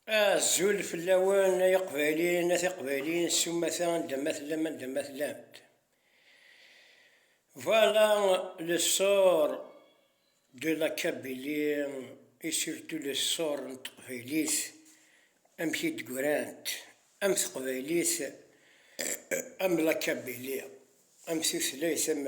Azul fell-awen ay iqbayliyen, a tiqbayliyin s umata anda ma tellam anda ma tellamt. Voilà le sort de la Kabylie et surtout le sort n teqbaylit amek i d-grant am teqbaylit am la Kabylie am tutlayt am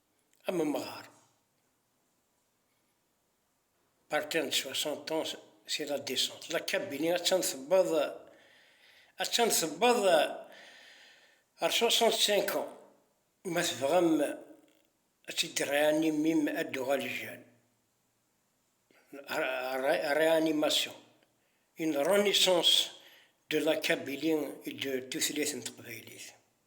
am umɣar. Partir de 60 ans, c'est la descente. La cabine, attan tewweḍ, attan tewweḍ ar 65 ans. Ma tebɣam ad t-id-reanimer-im ad d-tuɣal jane. Réanimation, une renaissance de la kabylie et de tutlayt n teqbaylit.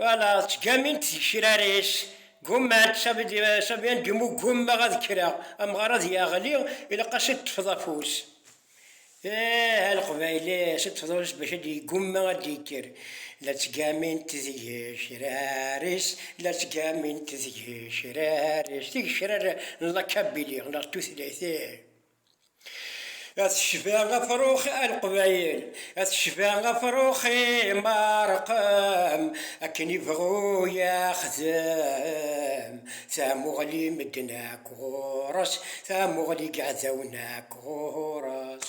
Wala ttgamint tgecrar-is, ggumant, ça veut dire, ça vient du mot ggummer ad kkreɣ, amɣar ad yeɣli ilaq-as ad ṭṭfeḍ afus. Eh, a Leqbayli, ad ṭṭfeḍ afus bac ad yeggumma ad d-yekker. La ttgamint tgecrar-is, la ttgamint tgecrar-is, tigecrar n lakabili, neɣ tutlayt, ih. A tecba afrux a leqbayel, a tecba afrux i Meṛqem, akken i bɣu yaxdem, tamuɣli n medden akk ɣur-s, tamuɣli n yiɛdawen akk ɣur-s.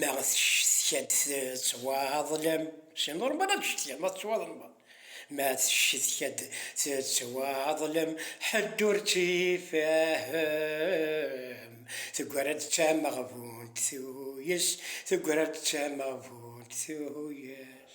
Ma teccetka-d tettwaḍlem, c'est normal ad ccetkiɣ ma tettwaḍlmeḍ, ma teccetka-d tettwaḍlem, ḥedd ur tt-ifehhem, teggra-d d tameɣbunt tuyes, teggra-d d tameɣbunt tuyes.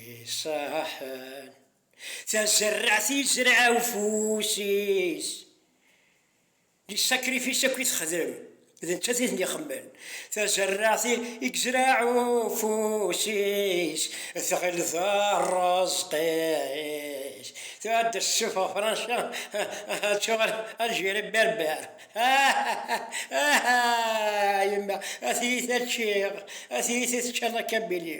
Iṣaḥen tazerraɛt yezreɛ ufus-is. Lisakrifis akk i texdem, d nettat i ten-ixemmen. Tazerraɛt i yezreɛ ufus-is, tɣil d rrezq-is. Tura ad d-tessufeɣ Franca, ad tuɣal Algérie berber. Ahaa! Yemma, a tiyita ččiɣ, a tiyita tečča la kabili.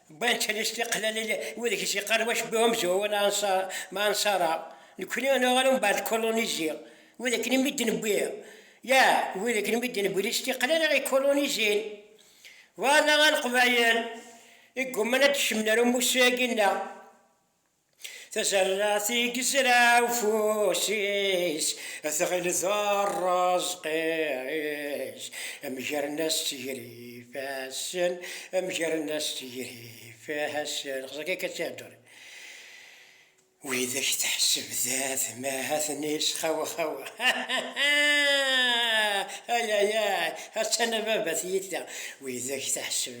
Wwant anis tiqlalin wadeg s-yeqqar wac bu amzun wa la ansar ma ansara nekkni ad naweɣ ɣer umbeɛd d kolonizi wid akken imi d-newwi ya wid akken imi d-newwi di s-tiqlal ara ikolonizin wa la a leqbayel i yegguman ad d-cemmen ar umussu-agi nneɣ. Tajerradt i yezra ufus-is, tɣil d rreẓq-is. Mgren-as s ger ifassen, mgren-as s ger ifassen. Xas akka akka ttiheddurin widak teḥseb d atmaten-is. Xawa xawa ayayay! Attan a baba tiyita widak teḥseb.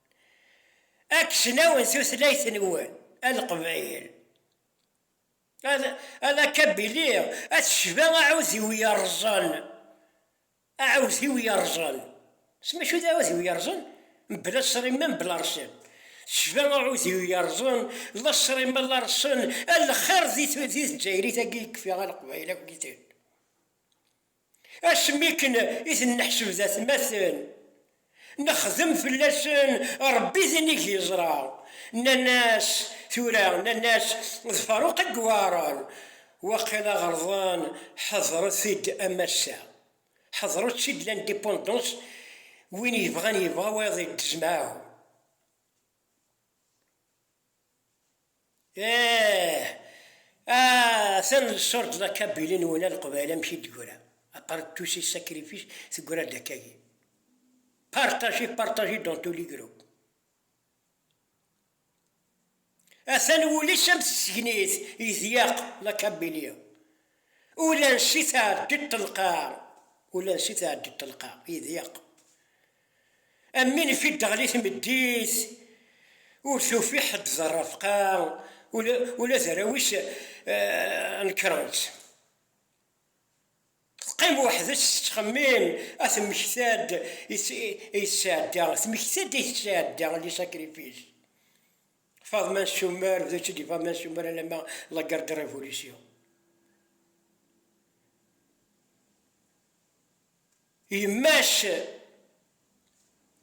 Akesnaw n tutlayt-nwen a Leqbayel, a la Kabili, a tecba aɛudiw yerrẓen, aɛudiw yerrẓen, s mačči d aɛudiw yerrẓen, mebla ṣṣrima, mebla rrṣin, tecba aɛudiw yerrẓen, la ṣṣrima la rrṣen, a lxir di Tdzayrit-agi i kfiɣ a Leqbayel akk-iten. Asmi akken i ten-neḥseb d atmaten, nexdem fell-asen Rebbi d inig yeẓra. Nnan-as, tura, nnan-as d Faruq i iweɛren, waqila ɣelḍen, ḥedṛet-id a massa, ḥedṛet-tt-id l'indépendance, win yebɣan yebɣa, wayeḍ yeddez mɛahu. Eeh! Aah! Atan lsurdj d akabili n wina leqbayel amek i d-tegra, apart de tous ces sacrifices tegra-d akkagi. Partagez, partagez dans tous les groupes. Atan wul-is am tsegnit yedyaq d akabili. Ula ansi tɛeddi ṭṭelqa, ula ansi tɛeddi ṭṭelqa, yedyaq. Am win ifi d-teɣli tmeddit, ur tufi ḥedd d rrefqa, ula d arraw-is nekren-tt. Teqqim weḥd-s tettxemmim, a temmekta-d i tesɛedda, temmekta-d i tesɛedda, les sacrifices. Faḍma Nsummer, d uttili Faḍma Nsummer alamma la guerre de révolution. Yemma-s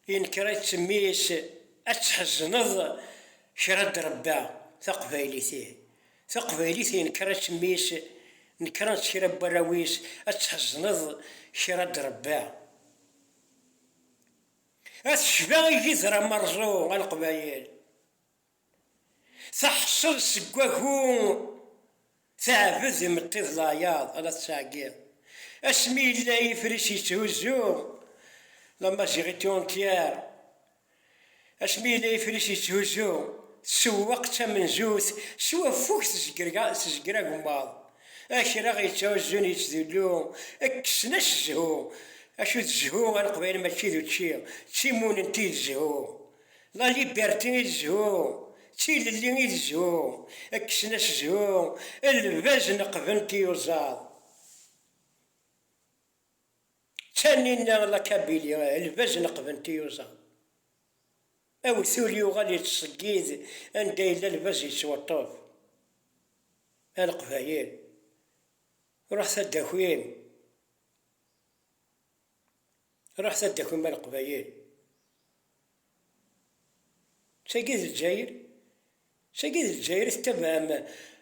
yenker-itt mmi-s ad tḥezneḍ kra n trebba taqbaylit ih, taqbaylit yenker-itt mmi-s nekren-tt kra n warraw-is ad tḥezneḍ kra n trebba. Ad tecba igider amerẓu a Leqbayel. Teḥṣel seg wagu teɛbed imeṭṭi d layaḍ ara tettɛeggiḍ asmi yella yifris yetthuzzu La Mazighitti Entière Asmi yella yifris yetthuzzu tsewweq d tamenzut s waffug tezger agemmaḍ akraɣ yetthuzzun yettdullu kksen-as zzhu acu d zzhu a leqbayel mačči d učči d timunent i d zzhu La liberté i zzhu, d tilelli i zzhu, kksen-as zzhu, lbaz neqben tiyuzaḍ. D taninna la kabili, lbaz neqben tiyuzaḍ. Awtul yuɣal yettṣeggid anda yella lbaz yettweṭṭef. A Leqbayel, ruḥet ad d-takim. Ruḥet ad d-takum a Leqbayel! D tagi d Lezzayer? D tagi d Lezzayer i tettabaɛem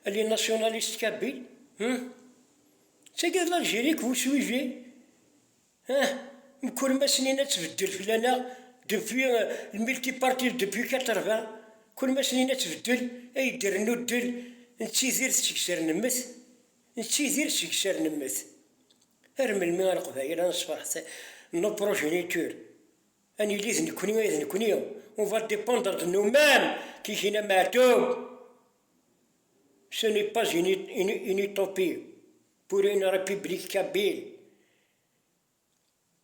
a les nationalistes kabyles? Huh? D tagi d l'Algérie que vous suivez? Huh? Mkul ma snin ad tbeddel fell-aneɣ depuis le multipartisme depuis 80, kul ma snin ad tbeddel, ad yi-d-irennu ddel, nettidir seg sser nemmet, nettidir seg sser nemmet. Ar melmi a Leqbayel ad nesferḥ s nos progenitures? Ad nili d nekkni ay d nekkni, on va dependre de nous mêmes, tihhin a Meɛtub, ce n'est pas une utopie pour une République kabyle.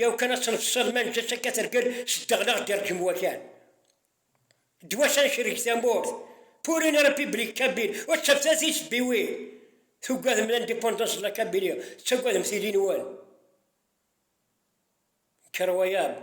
Yaw kan ad tneḍseḍ ma neǧǧa-tt akka tergel s ddeɣ neɣ d-irǧem wakal. Ddwa-s ad necreg tamurt. Pour une République Kabyle, ur ttafet ara tisebbiwin! Tugadem l'indépendance de la Kabylie, tettagadem tili-nwen. Incroyable!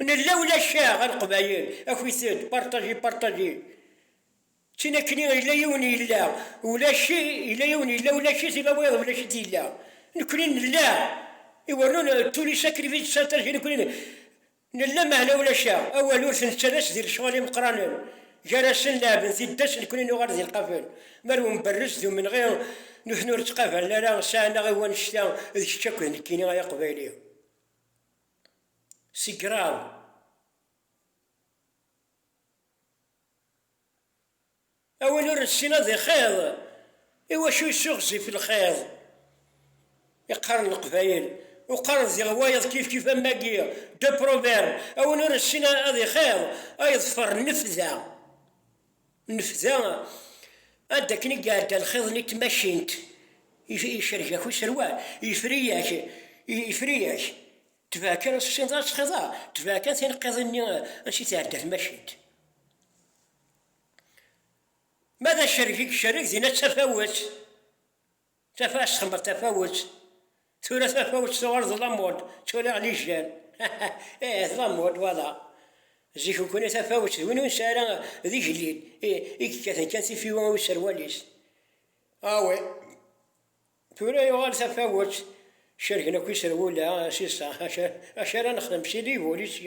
Nella ula caɣ a leqbayel, akit-d, partager, partager. Tin akkenni yella yiwen yella, ulac yella yiwen yella ulac-it ila wayeḍ ulac-it yella. Nekkenni nella, iwernun d tuli sacrifice santage nekkenni nella meɛna ulac aɣ, awal ur t-nettalas di lecɣal imeqqranen, gar-asen leɛben tiddas nekkenni nuɣal di lqafel, ma d umberrez d umenɣi nutni ur ttqabalen ara sɛan aɣ i wannect-a d kečč akk d nekkini ay aqbayli. Si graw. A win ur nessin ad ixiḍ, iwacu yessuɣzif lxiḍ? I qqaren Leqbayel, u qqaren diɣ wayeḍ kifkif am wagi, deux proverbes, a win ur nessin ad ixiḍ, a yeḍfer nnefda. Nefda ad akken i iɛedda lxiḍ n tmacint, icerreg-ak userwal, yefri-ak, yefri-ak, tebɛa kan, ur tessineḍ ara ad tesxiḍ ara, tebɛa kan tineqqiḍin-nni ansi tɛedda tmacint. Ma d acerreg i icerreg, dinna d tafawet. Tafat txemmeḍ tafawet, tura tafawet tuɣal d lamod, ttwaliɣ lijjal. Ih, d lamod wala. Zik ukuni tafawet d win ur nesɛi ara d igellil, i yekkaten kan tifiwa i userwal-is. Awi, tura yuɣal tafawet, cergen akk iserwula, sisa, acu ara nexdem s ilig ur yessi.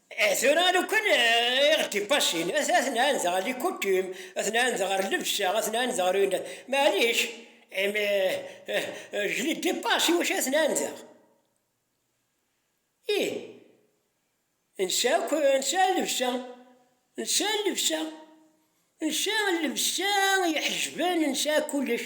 Eh, tura lukan eh, iɣ d-ipassin, ad ad nɛand ɣer likutim, ad nɛand ɣer lebsa, ad nɛand ɣer yun. Maɛlic, eh, mais, eh, eh, eh, je les dépasse, iwacu ad nɛandeɣ? Ih, nsa akk, nsa llebsa, nsa llebsa, nsa llebsa iḥejben, nsa kullec.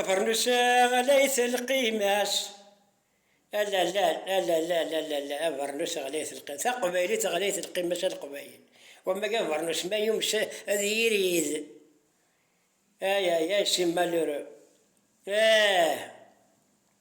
Afarnus ɣlayet lqimas. Alalal, alalal, alalal, abarnus ɣlayet lqimas. Taqbaylit ɣlayet lqimas a Leqbayel. Wamag abarnus ma yums ad yirid. Ay ay ay si malheureux. Eeh.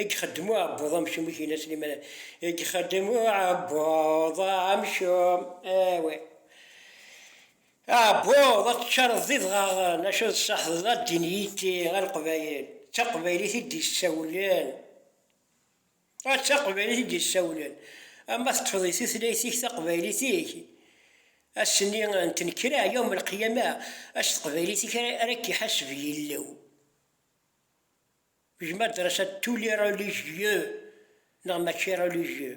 I ixeddem uɛebbuḍ amcum i Kina Slimane? I ixeddem uɛebbuḍ amcum? Awi aɛebbuḍ ad teččareḍ d idɣaɣen, acu ad tseḥdeḍ a ddin yitti a leqbayel, d taqbaylit i d-yessawlen, ah d taqbaylit i d-yessawlen, ama teṭṭfeḍ i tutlayt-ik taqbaylit-ik, ass-nni n tnekra, yawm el-qiyama, s teqbaylit-ik ara k-iḥaseb Yillu. Je m'adresse à tous les religieux neɣ mačči religieux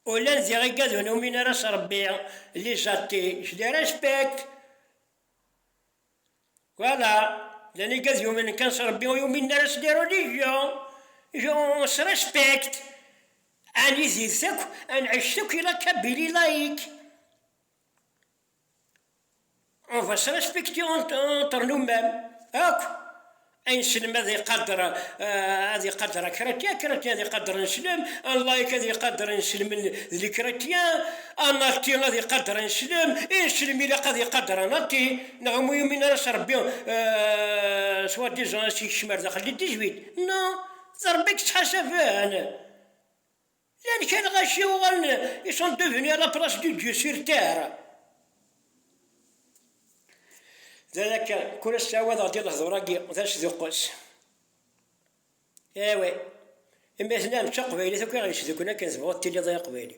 ula d iɣiggad ur numin ara s Rebbi les athées je les respecte voilà les iggad yuminen kan s Rebbi ur yuminen ara s les religions je on se respecte ad nidiret akk ad nɛic akk ila kabili laïque akk ayen slen ad iqader ad iqader kra kra kra kra ad iqader neslen layik ad iqader neslen d kra kra anati ad iqader neslen i neslen ilaq ad iqader anati neɣ umi ur yumin ara s rebbi s wadizan ad s-ikcem ar daxel di tejbit no d rebbi i yettḥasaben Llan kan ɣaci uɣalen ils sont devenus à la place de Dieu sur terre. D akka, kul ass ttɛawadeɣ-d i lehdur-agi d asduqqes. Awi, imi tenam d taqbaylit akk i ɣ-yesdukklen akken tebɣuḍ tiliḍ ay aqbayli.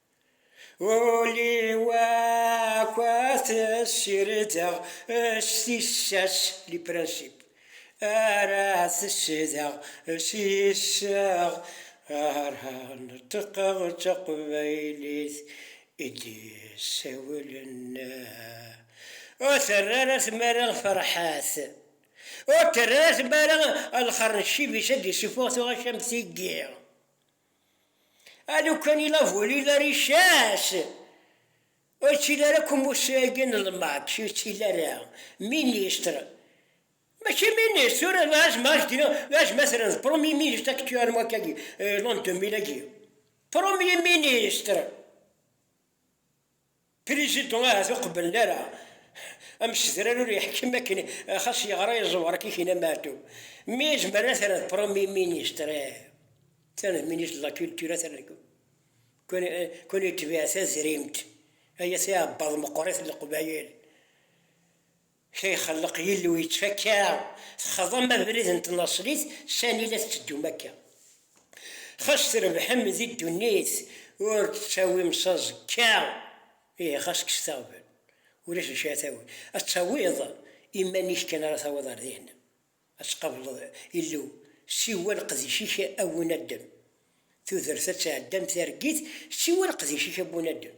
Uli wakat sirdeɣ s tissas li principe ara tesdeɣ s yisseɣ ara neṭqeɣ d taqbaylit i d-yessawlen ur terri ara tmara Ferḥat ur terri ara tmara lxer n ccib-is ad d-isufuɣ tuɣac am tigi. Alukan i la volé la richesse ur ttili ara akk umussu-agi n lmaṭc ur ttili ara ministre, mačči ministre, tura d azmater d premier ministre actuellement agi l'an 2000 agi, premier ministre. Pirizidu ahat ur qebblen ara amsedrar ur yeḥkem akken xas yeɣra yeẓwer akka kina Meɛtub mi yezmer ad t-rren Premye Ministr tane Ministre de la Culture atan deg kun yetbiɛ tazrimt ay at iɛebbaḍ meqqrit n Leqbayel. Kra ixelleq Yillu yettfakka, texḍam abrid n tnaṣlit, sani la tetteddum akka? Xas trebḥem di ddunit, ur d-ttawim s aẓekka, ihi xas kkset aɣbel, ulac d acu ara tawiḍ, ad tawiḍ iman-ik kan ara tawiḍ ar dihin, ad tqableḍ Illu, siwa leqdic-ik a bu naddam, tudert ad tɛeddi am targit, siwa leqdic-ik a bu naddam.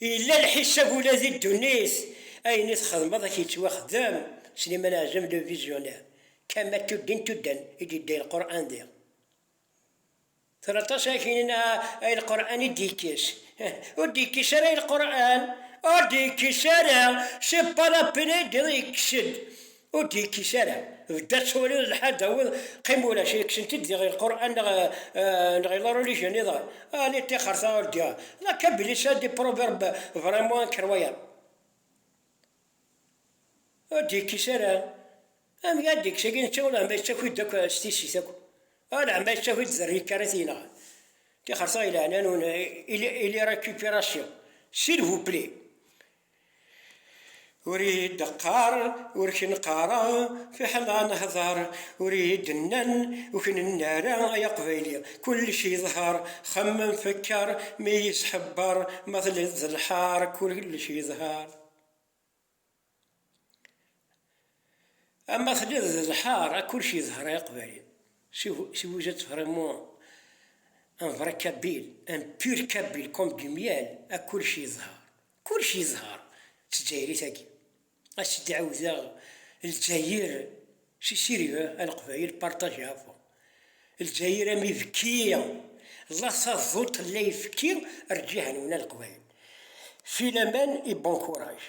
Yella lḥisab ula di ddunit, ayen i txedmeḍ a k-yettwaxdem, Slimane Azem le visionnaire, kama tuddin tuddan i d-yedda i lqur'an diɣ tura aṭas ara k-yinin ah ay lqur'an i d-yekkes ih ur d-yekkes ara ay lqur'an ur d-yekkes ara c'est pas la peine ay d-yekkes-d Ur d-yekkis ara. Bedd ad twaliḍ lḥal tawiḍ qim ulac i kksen-t-id diɣ i lqur'an neɣ neɣ i la religion niḍen. Ah li ṭixerta ur d-ya la ka belli ça des proverbes vraiment incroyables. Ur d-yekkis ara. Amek ara d-yekkes agi netta ulama yettaki-d akk s tissit akk. Alaama yettaki-d d rrik ara t-yenɣen. Ṭixerta i leɛna-nwen il est récupération s'il vous plaît. Ur iyi-d-qqar ur k-neqqareɣ fiḥel ad nehder, ur iyi-d-nnan ur k-nenna ara ay aqbayli, kullec yeḍher, xemmem fekker mi iyi-sḥebber, ma telliḍ d lḥar kullec yeḍher. Ama telliḍ d lḥar a kullec yedhar ay aqbali, si vous êtes vraiment un vrai kabyle, un pur kabyle comme du miel a kullec yedhar, kullec yedhar d tezzayirit agi, a sidi ɛiwdeɣ lezzayer si sirve a leqbayel partager avon lezzayer am ibekki la taduṭ la ibekki rǧihanwen a leqbayel filaman et bon courage.